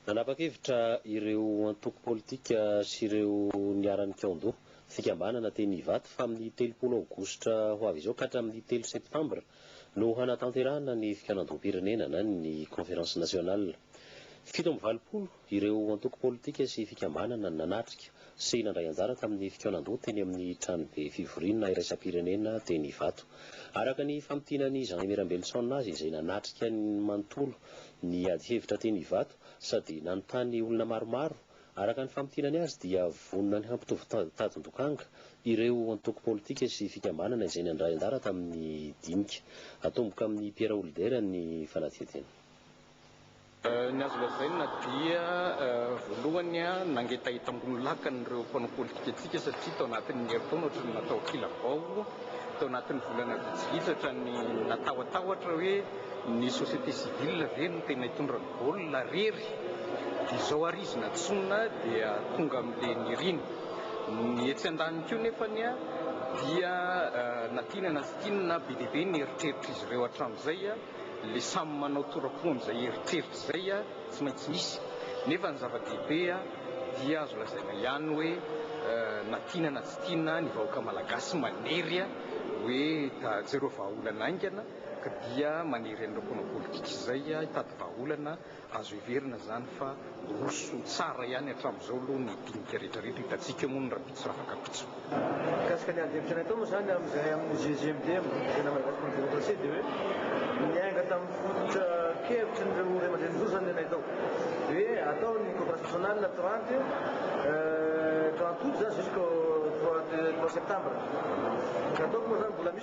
Nanapa-kevitra ireo antoko politika sy ireo niharan'ny Kiondo, fikambanana teny Ivato fa amin'ny telopolo aogositra ho avy izao ka hatramin'ny telo septambra no hanatanterahana ny fikaonandoham-pirenena na ny Conférence Nationale. Fito amby valopolo ireo antoko politika sy fikambanana nanatrika sy nandray anjara tamin'ny fikaonandoha teny amin'ny tranobe fivoriana iraisam-pirenena teny Ivato. Araka ny famintinan'i Jean Aimé Rambelison azy izay nanatrika manontolo ny adihevitra teny Ivato sady nanontany olona maromaro, araka ny famintinany azy dia vonona ny hampitovy tadin-dokanga ireo antoko politika sy fikambanana izay nandray anjara tamin'ny dinika. Atomboka amin'i Pierre Houlder ny fanadihadiana. Ny azo lazaina dia voalohany nangetahetam-bolo lakana ireo mpanao politika antsika satria tao anatin'ny herintaona ohatran'ny natao kilabao, tao anatin'ny volana vitsivitsy ohatran'ny natahotahotry hoe ny société civile ve no tena hitondra ny baolina rery dia izao ary izy natsoina dia tonga amin'ilay niriny. Ny etsy andaniny koa nefa dia na tiana na tsy tiana be dia be ny eritreritr'izy ireo hatramin'izay. le samy manao torapo amzay eritreritra zay a tsy maintsy misy nefa ny zava-dehibe a dia azo lazaina ihany hoe na tiana na tsy tiana ny vahoaka malagasy manery a hoe jereo vahaolana aingana ka dia manery an'ireo mpanao politika izay a hitady vahaolana Azo heverina izany fa roso tsara ihany hatramin'izao aloha ny dinika rehetra rehetra, hitantsika eo moa ny rahampitso raha afaka mpitso. Mikasika ny adihevitra natao moa izany amin'izay amin'ny GGMDM, Gouvernement de Madagascar pour la Démocratie, dia hoe niainga tamin'ny fototra kevitry ny ireo raiamandrenin'ny roso izany ilay natao. Hoe atao ny conférence nationale trente trente aout zany jusqu'au trois septembre. Nataoko moa izany mbola misy.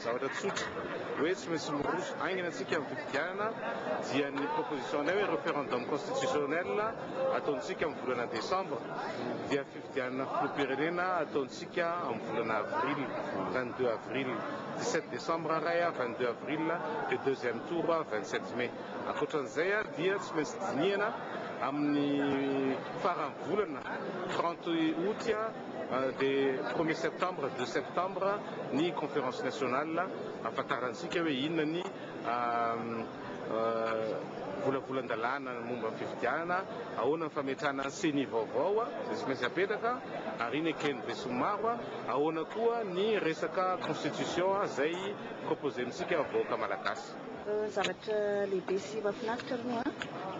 Zavatra tsotra hoe tsy maintsy miroso haingana isika amin'ny fifidianana dia ny proposition-nay hoe referendum constitutionnel ataontsika amin'ny volana desambra dia fifidianana filoham-pirenena ataontsika amin'ny volana avril, vingt deux avril, dix sept desambra ray a, vingt deux avril dia deuxième tour vingt sept mai. Ankoatran'izay dia tsy maintsy dinihana amin'ny faran'ny volana trente aout. Dia premier septembre, deux septembre ny conférence nationale ahafantarantsika hoe inona ny volavolan-dalàna momba ny fifidianana, ahoana ny fametrahana ny ceni vaovao izay tsy maintsy apetraka ary iny eken'ny besinimaro, ahoana koa ny resaka constitution izay proposentsika vahoaka malagasy. Zavatra lehibe sy mahafinaritra aloha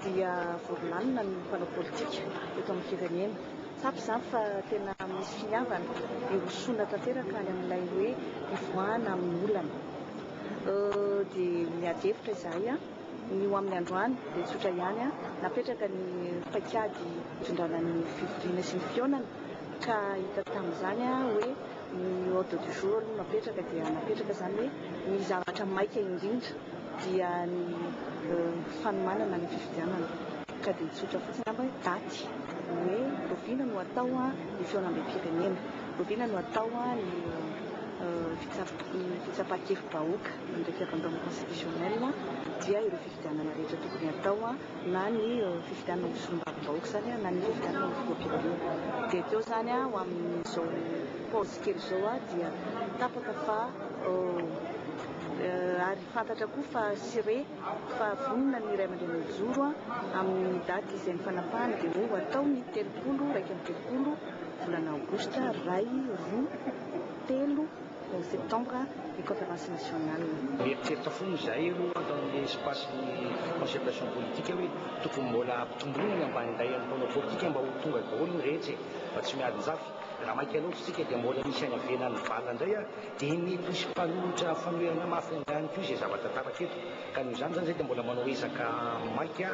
dia voro lalina ny mpanao politika eto amin'ny firenena. Tsapa izany fa tena misy finiavana hirosoana tanteraka any amin'ilay hoe hivoahana amin'ny olana. Dia miady hevitra izahay. Ny ho amin'ny androany dia tsotra ihany, napetraka ny paikady hitondrana ny fivoriana sy ny fihaonana ka hita tamin'izany hoe. Ny ordre du jour aloha napetraka dia napetraka izany hoe ny zavatra maika indrindra dia ny fanomanana ny fifidianana ka dia tsotra fotsiny angamba hoe daty hoe oviana no atao ny fihaonambem-pirenena, oviana no atao ny fitsapan-kevi-bahoaka an'ireo fiabandoana constitutionnel dia ireo fifidianana rehetra tokony atao. na ny fifidianana ho solombavambahoaka izany na ny fifidianana ho filoham-pirenena. Dia teo izany ho amin'izao paozy kely izao dia tapaka fa ary fantatra koa fa sire fa vonona ny ray aman-dreny mijoro amin'ny daty izay nifanapahana dia hoe ho atao ny telopolo iraika amby telopolo volana aogositra iray, roa, telo, Ny Septambra ny Conférence Nationale. Mieritreritra foana izahay aloha tao amin'ilay espace-n'ny concertation politique hoe tokony mbola hampitomboina ny ambanindahy amin'ny mpanao politika mba ho tonga daholo ny rehetra e! Mba tsy miadin-jafy. Raha maika loatra isika dia mbola misy any ivelan'ny vala indray ary dia mety hisy mpanohitra fanoherana mafy angaha ihany koa izay zava-tantarako eto. Ka noho izany izany zay dia mbola manao ezaka maika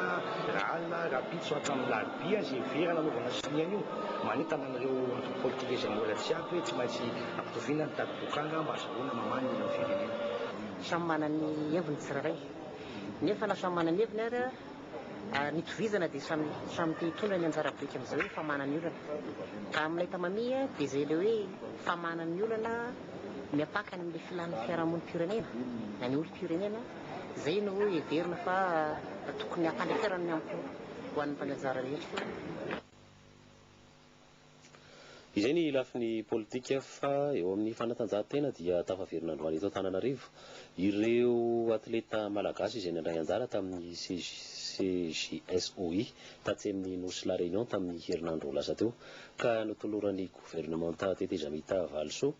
raha alina rahampitso hatramin'ny larobia izay heverana hanaovana sonia an'io. Manentana an'ireo antoko politika izay mbola tsy ampy hoe tsy maintsy ampitoviana ny tadim-boatranga mba azahoana mamaha ny olan'ny firenena. Samy manana ny heviny ny tsirairay. Nefa na samy manana ny heviny ary. Ary ny tovizana dia samy samy te hitondra ny anjara biriky amin'izay hoe famahana ny olana. Raha amin'ilay tamamia dia izay ilay hoe famahana ny olana miampaka any amin'ilay filan'ny fiarahamonim-pirenena na ny olom-pirenena, izay no heverina fa tokony hampandeferana ny ampo ho an'ny mpaneho anjara rehetra. Izay ny lafiny politika fa eo amin'ny fanatanjahantena dia tafaverina androany eto Antananarivo ireo atleta malagasy izay nandray anjara tamin'ny CJSOI tatsy amin'ny nosy La Réunion tamin'ny herinandro lasa teo ka notoloran'ny governemanta tetezamita valisoa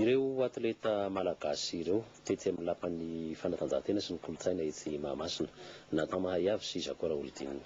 ireo atleta malagasy ireo tetsy amin'ny lapan'ny fanatanjahantena sy ny kolontsaina etsy Mahamasina Nathan Mahayav sy Jaco Raholdina.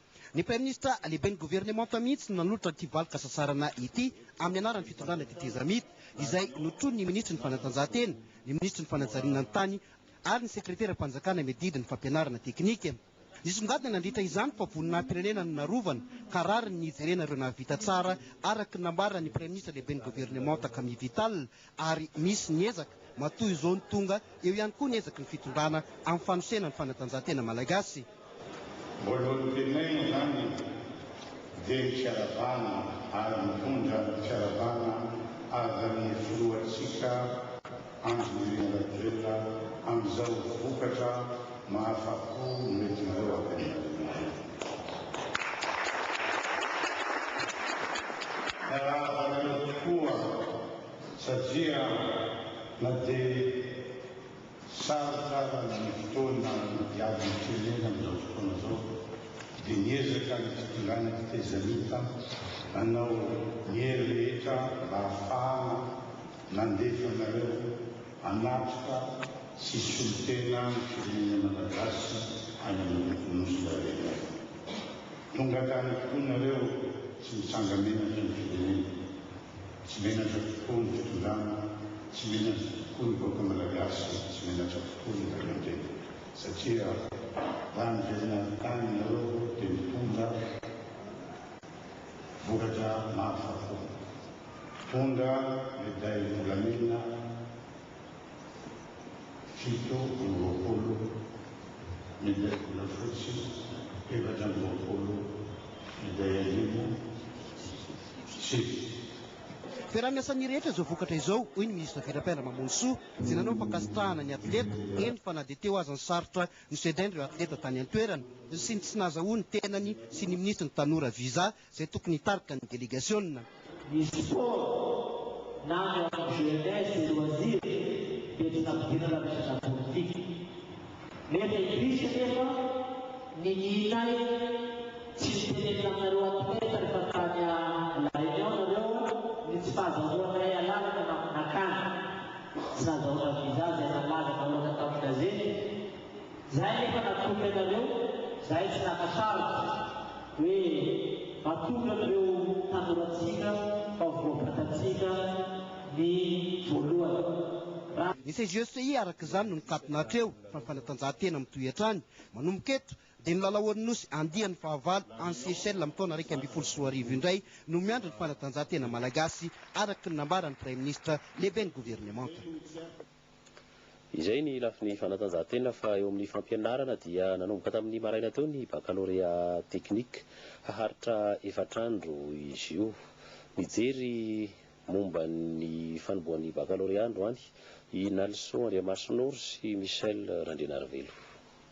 Ny Praiminisitra lehiben'ny governemanta mihitsy no nanolotra ity valin-kasasarana ity amin'ny anaran'ny fitondrana tetezamita, izay notronin'ny Minisitry ny Fanatanjahantena, ny Minisitry ny Fanajariana ny Tany ary ny Sekreteram-panjakana miadidy ny Fampianarana teknika. Nisongadina nandritra izany fa voninahi-pirenena no narovana ka rariny ny hijerena ireo nahavita tsara, araka ny nambaran'ny Praiminisitra lehiben'ny governemanta Camille Vital ary misy ny ezaka matoa izao ny tonga eo ihany koa ny ezaky ny fitondrana amin'ny fanosena ny fanatanjahantena malagasy. Voalohany tenenina izany dia ny fiaravana ary mitondra ny fiaravana azan'ny filohantsika Andry Nirina Rajoelina amin'izao vokatra mahafa-po noentinareo avy any Antananarivo. Miarahaba anareo tokoa. satria na dia sarotra aza ny fotoana iady am-pirenena amin'izao fotoana izao dia miezaka ny fitondrana fitaizamita nanao ny hery rehetra mba hahafahana nandefa anareo hanatrika sy hisolo tena ny firenena Malagasy any amin'ny Nosy Lalena. Tonga tany tokoa nareo tsy mitsanga-menatra ny firenena. Tsy menatra tokoa ny fitondrana, tsy menatra tokoa ny vahoaka Malagasy, tsy menatra tokoa ny ray aman-dreny satria raha niverina avy tany ianareo dia nitondra vokatra mahafa-po, nitondra medailles volamena, fito amby roapolo, minday volafotsy efatra amby roapolo, minday arivo, tsy. Ferana ny asan'ny rehetra izao vokatra izao, hoy ny minisitra Verapiandra Mamonisoa, izay nanao fankasitrahana ny atleta, eny fa na dia teo aza ny sarotra nosedrain'ireo atleta tany an-toerana sy ny tsy nahazahoany tenany sy ny minisitry ny Tanora visa izay tokony hitarika ny delegasiona. Ny sport na ny antoko Jeunesse et Loisirs dia tsy nampidirana resaka politika. Nefa i Christ anefa ninianay tsy niteny taminareo athlètes rehefa tany à la réunion nareo ny tsy fahazahoanay alalana na nakana tsy nazahoana visa izay nalaza nahoatra tamin'ny gazety. Izay anefa natolony anareo, izahay tsy naka sarotra. Hoe atolotro an'ireo tanorantsika fa voabatantsika ny voalohany. Raha. Ny CGECI araka izany no nikatona hatreo fa ny fanatanjahantena mitohy hatrany. Manomboka eto dia ny lalaon'ny Nosy andiany fahavalo any Seychelles amin'ny taona iraika ambin'ny folo sy roa arivo indray no miandry ny fanatanjahantena malagasy araka ny nambaran'ny Praiminisitra, Lehiben'ny Governemanta. Izay ny lafiny fanatanjahantena fa eo amin'ny fampianarana dia nanomboka tamin'ny maraina teo ny bakalorea teknika. Haharitra efatra andro izy io. Nijery momba ny fanombohan'ny bakalorea androany i Nalison Andriamasinoro sy Michel Randrianarivelo.